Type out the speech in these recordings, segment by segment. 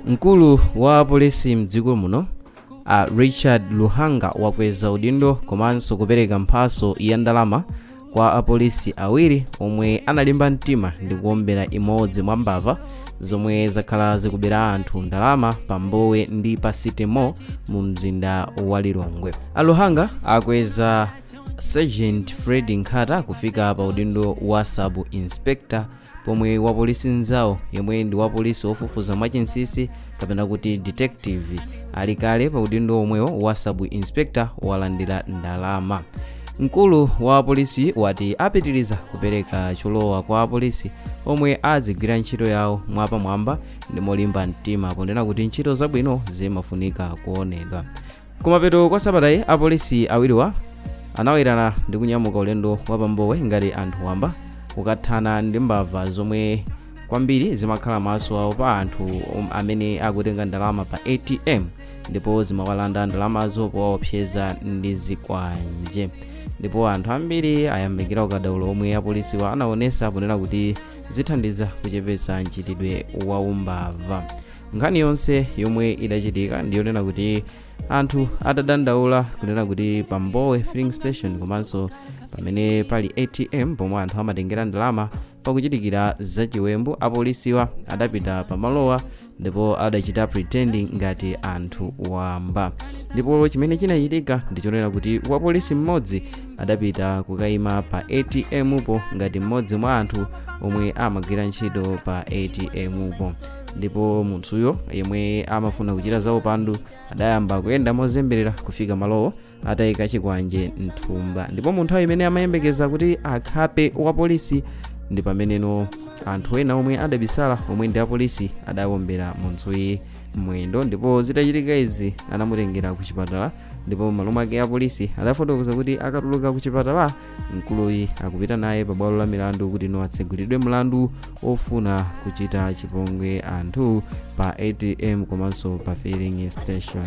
mkulu wa apolisi mdziko muno a richard luhanga wakweza udindo komanso kupereka mphaso ya ndalama kwa apolisi awiri omwe analimba mtima ndi kuombera imodzi mwa mbava zomwe zakhala zikubera anthu ndalama pa mbowe ndi pa city mall mu mzinda wa lilongwe aluhanga akweza sergeant fred nkhata kufika pa udindo wa sub inspector pomwe wapolisi nzawo yemwe ndi wapolisi wofufuza mwachinsisi kapena kuti detective ali kale pa udindo omwewo wa sub inspector walandira ndalama mkulu wa apolisi wati apitiriza kupereka cholowa kwa apolisi omwe azigwira ntchito yawo mwapamwamba ndi molimba mtima ponena kuti ntchito zabwino zimafunika kuonedwa kumapeto kwa sabatayi apolisi awiriwa anawerana ndi kunyamuka ulendo wa pambowe ngati anthu wamba kukathana ndi mbava zomwe kwambiri zimakhala maso awo pa anthu amene akutenga ndalama pa atm ndipo zimawalanda ndalamazo powaopseza ndi zikwanje ndipo anthu ambiri ayamikira ukadaulo omwe apolisiwa anaonesa ponena kuti zithandiza kuchepetsa mchitidwe wa umbava nkhani yonse yomwe idachitika ndiyonena kuti anthu adadandaula kunena kuti pa mbowe filling station komanso pamene pali atm pomwe anthu amatengera ndalama pakuchitikira zachiwembu apolisiwa adapita pamalowa ndipo adachita pretending ngati anthu wamba ndipo chimene chinachitika ndichonena kuti wapolisi mmodzi adapita kukayima pa atm po ngati mmodzi mwa anthu omwe amagwira ntchito pa atm po ndipo munthuyo yemwe amafuna kuchita za upandu adayamba kuyenda mozemberera kufika malowo atayika chikwanje mthumba ndipo mu nthawi imene amayembekeza kuti akhape wapolisi ndi pameneno anthu ena omwe adabisala omwe ndi apolisi adawombera munthuyi mwendo ndipo zitachitika izi anamutengera ku chipatala ndipo malo mwake apolisi adafotokoza kuti akatuluka ku chipatala mkuluyi akupita naye pa bwalo la milandu kuti no atsegulidwe mlandu ofuna kuchita chipongwe anthu pa atm komanso pa filling station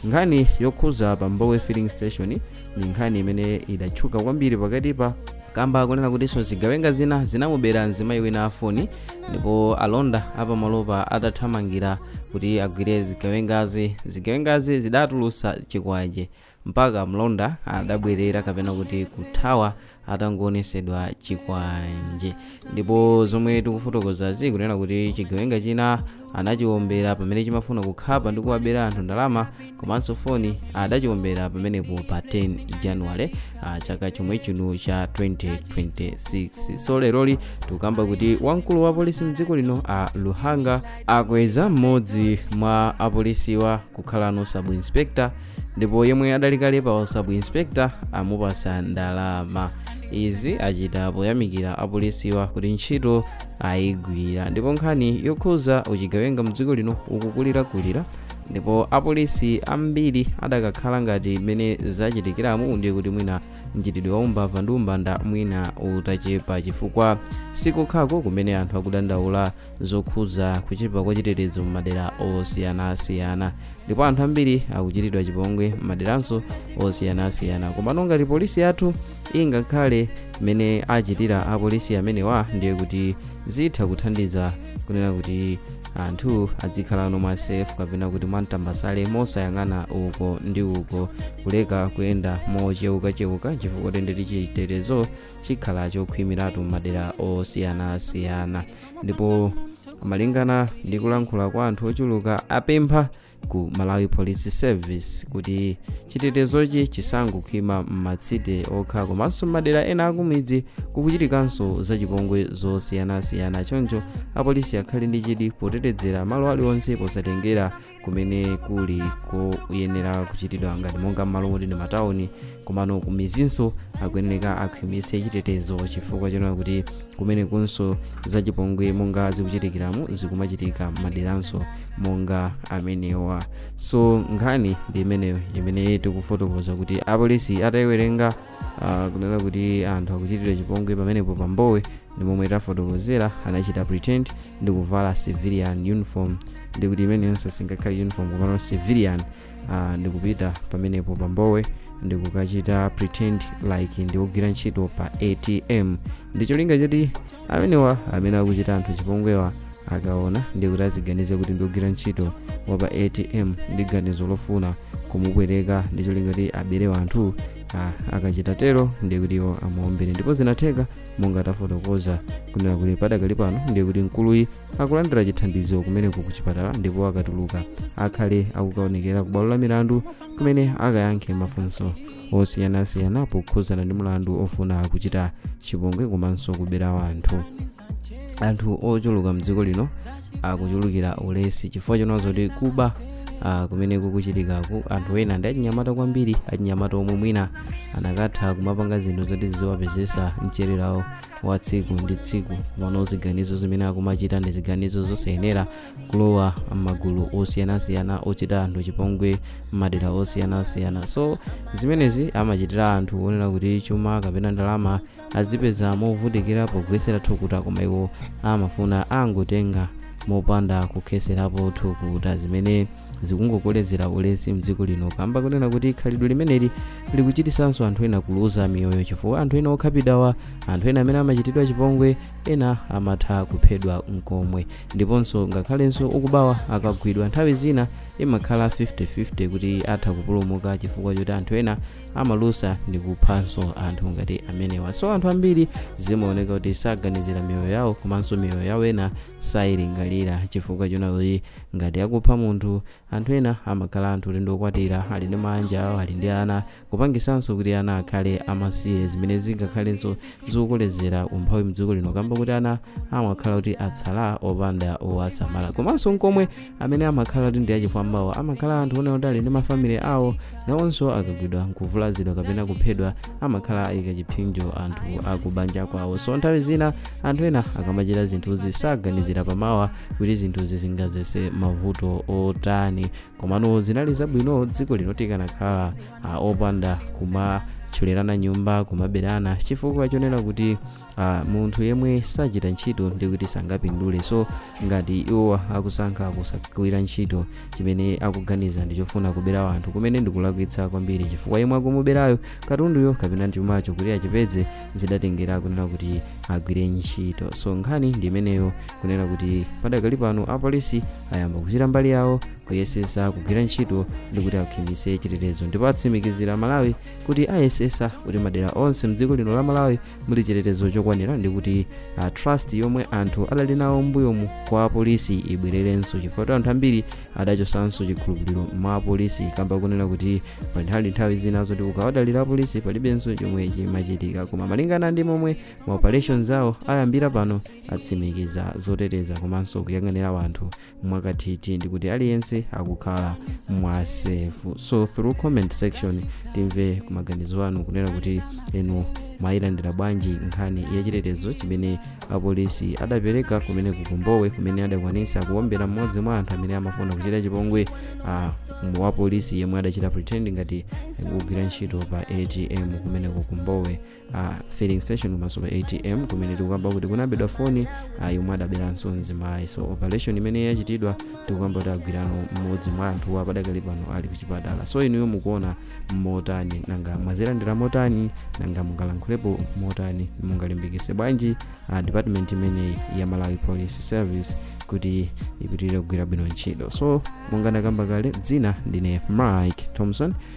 nkhani yokhuza pa mbowe filling station ni nkhani imene idatchuka kwambiri pakatipa kamba konena kutinso zigawenga zina zinamubera mzimayi wina wa foni ndipo alonda apamalopa atathamangira kuti agwire zigawengazi zigawengazi zidatulusa chikwanje mpaka mlonda adabwerera kapena kuti kuthawa atangoonetsedwa chikwanje ndipo zomwe tikufotokozazi kunena kuti chigawenga china anachiwombera pamene chimafuna kukhapa ndi kuwabera anthu ndalama komanso foni adachiwombera pamenepo pa 10 january ah, chaka chomwe chino cha 2026 so leroli tikukamba kuti wamkulu wa polisi mdziko lino a luhanga akweza mmodzi mwa apolisiwa kukhalano sub inspector ndipo yemwe adali kale pa sub inspector amupasa ndalama izi achita poyamikira apolisiwa kuti ntchito ayigwira ndipo nkhani yokhuza uchigawenga mdziko lino ukukulirakulira ndipo apolisi ambiri adakakhala ngati mmene zachitikiramu ndiye kuti mwina mchitidwe wa umbava ndi umbanda mwina utachepa chifukwa sikukhako kumene anthu akudandaula zokhudza kuchepa kwa chitetezo m'madera osiyanasiyana ndipo anthu ambiri akuchitidwa chipongwe m'maderanso osiyanasiyana komano ngati polisi yathu ingakhale mmene achitira apolisi amenewa ndiye kuti zitha kuthandiza kunena kuti anthu adzikhalano mwa safe kapena kuti mwamtambasale mosayang'ana uko ndi uko kuleka kuyenda mochewukachewuka chifukwa tendeti chitetezo chikhala chokhwimiratu m'madera osiyanasiyana ndipo malingana ndi kulankhula kwa anthu ochuluka apempha ku malawi police service kuti chitetezochi chisangokhwima m'matsite okha komanso m'madera ena akumidzi kukuchitikanso zachipongwe zosiyanasiyana choncho apolisi akhale ndi chidwi potetezera malo aliwonse posatengera kumene kuli koyenera kuchitidwa ngati monga m'malo moti ndi matawuni komano kumizinso akuyeneka akhwimitse chitetezo chifukwa chonena kuti kumenekunso zachipongwe monga zikuchitikiramu zikumachitika maderanso monga amenewa so nkhani ndi imeneyo imene tikufotokoza kuti apolisi atayiwerenga Ah, kunena kuti anthu akuchitira chipongwe pamenepo pa Mbowe ndi momwe tafotokozera anachita pretend ndi kuvala civilian uniform ndiye kuti imeneyonso singakhale uniform komano civilian ah, ndi kupita pamenepo pa Mbowe ndi kukachita pretend like ndi ogwira ntchito pa atm ndi cholinga choti amenewa amene akuchita anthu chipongwewa akaona ndiye kuti aziganize kuti ndi ogwira ntchito wa pa atm ndi ganizo lofuna kumupweteka ndi cholinga kuti abere wanthu ah, akachita tero ndiye kuti iwo amuombere ndipo zinatheka monga tafotokoza kunena kuti padakali pano ndiye kuti mkuluyi akulandira chithandizo kumeneko ku chipatala ndipo akatuluka akhale akukaonekera ku bwalo la milandu kumene akayankhe mafunso osiyanasiyana pokhuzana ndi mlandu ofuna kuchita chipongwe komanso kubera wanthu anthu ochuluka mdziko lino akuchulukira ulesi chifukwa chonena zokuti kuba ah, kumene kukuchitikaku anthu ena ndi achinyamata kwambiri achinyamata omwe mwina anakatha kumapanga zinthu zoti ziziwapezesa mchererawo wa tsiku ndi tsiku mano ziganizo zimene akumachita ndi ziganizo zosayenera kulowa m'magulu osiyanasiyana ochita anthu chipongwe m'madera osiyanasiyana so zimenezi amachitira anthu onena kuti chuma kapena ndalama azipeza movutikira pogwesera thukuta koma iwo amafuna angotenga mopanda kukheserapo thukuta zimene zikungokolezera ulesi mdziko lino kamba kunena kuti khalidwe limeneli likuchitisanso anthu ena kuluza miyoyo chifukwa anthu ena okhapidawa anthu ena amene amachitidwa chipongwe ena amatha kuphedwa nkomwe ndiponso ngakhalenso okubawa akagwidwa nthawi zina imakhala 50-50 kuti atha kupulumuka chifukwa choti anthu ena amalusa ndi kuphanso anthu ngati amenewa so anthu ambiri zimaoneka kuti saganizira miyoyo yawo komanso miyoyo yawo ena sayilingalira chifukwa chonena zoti ngati akupha munthu Anthu ena amakhala anthu kuti ndiokwatira, ali ndi maanja awo, ali ndi ana, kupangisanso kuti ana akhale amasiye zimene zingakhalenso zikukolezera umphawi mdziko lino kamba kuti ana amakhala kuti atsala opanda owasamala. Komanso nkomwe amene amakhala kuti ndi achifwambawo amakhala anthu onena kuti ali ndi ma family awo nawonso akagwidwa nkuvulazidwa kapena kuphedwa amakhala ayika chiphinjo anthu akubanja kwawo so nthawi zina anthu ena akamachita zinthuzi saganizira pamawa kuti zinthuzi zingazese mavuto otani komano zinali zabwino dziko lino tikanakhala ah, opanda kumathyolerana nyumba kumaberana chifukwa chonena kuti uh, munthu yemwe sachita ntchito ndikuti sangapindule so ngati iwo akusankha kusagwira ntchito chimene akuganiza ndi chofuna kubera wanthu kumene ndikulakwitsa kwambiri chifukwa yemwe akumuberayo katunduyo kapena chumacho kuti achipeze zidatengera kunena kuti agwire ntchito so nkhani ndi imeneyo kunena kuti padakali pano apolisi ayamba kuchita mbali yawo kuyesesa kugwira ntchito ndikuti akhwimitse chitetezo ndipo atsimikizira amalawi kuti ayesesa kuti madera onse mdziko lino la malawi muli chitetezo chokwanira ndi kuti a trust yomwe anthu adali nawo mbuyomu kwa apolisi ibwererenso chifukwa kuti anthu ambiri adachosanso chikhulupiriro mwa apolisi kamba kunena kuti pali nthawi zina zoti ukawadalira apolisi palibenso chomwe chimachitika koma malingana ndi momwe ma operations awo ayambira pano atsimikiza zoteteza komanso kuyang'anira wanthu mwakathithi ndikuti aliyense akukhala mwa safe so through comment section timve ku maganizo anu kunena kuti inu mwayilandira bwanji nkhani yachitetezo chimene apolisi adapereka kumene kukumbowe kumene adakwanisa kuwombera mmodzi mwa anthu amene amafuna kuchita chipongwe uh, wapolisi yemwe adachita pretend ngati kugwira ntchito pa atm kumene kukumbowe a filling station komanso pa atm kumene tikukamba kuti kunabedwa foni a yomwe adaberanso mzimayi so operation imene yachitidwa tikukamba kuti agwirano mmodzi mwa anthuwa padakali pano ali kuchipatala so inuyo mukuona motani nanga mwazilandira motani nanga mungalankhulepo motani mungalimbikise bwanji a department imeneyi ya malawi police service kuti ipitirize kugwira bwino ntchito so monga ndakamba kale dzina ndine mike thompson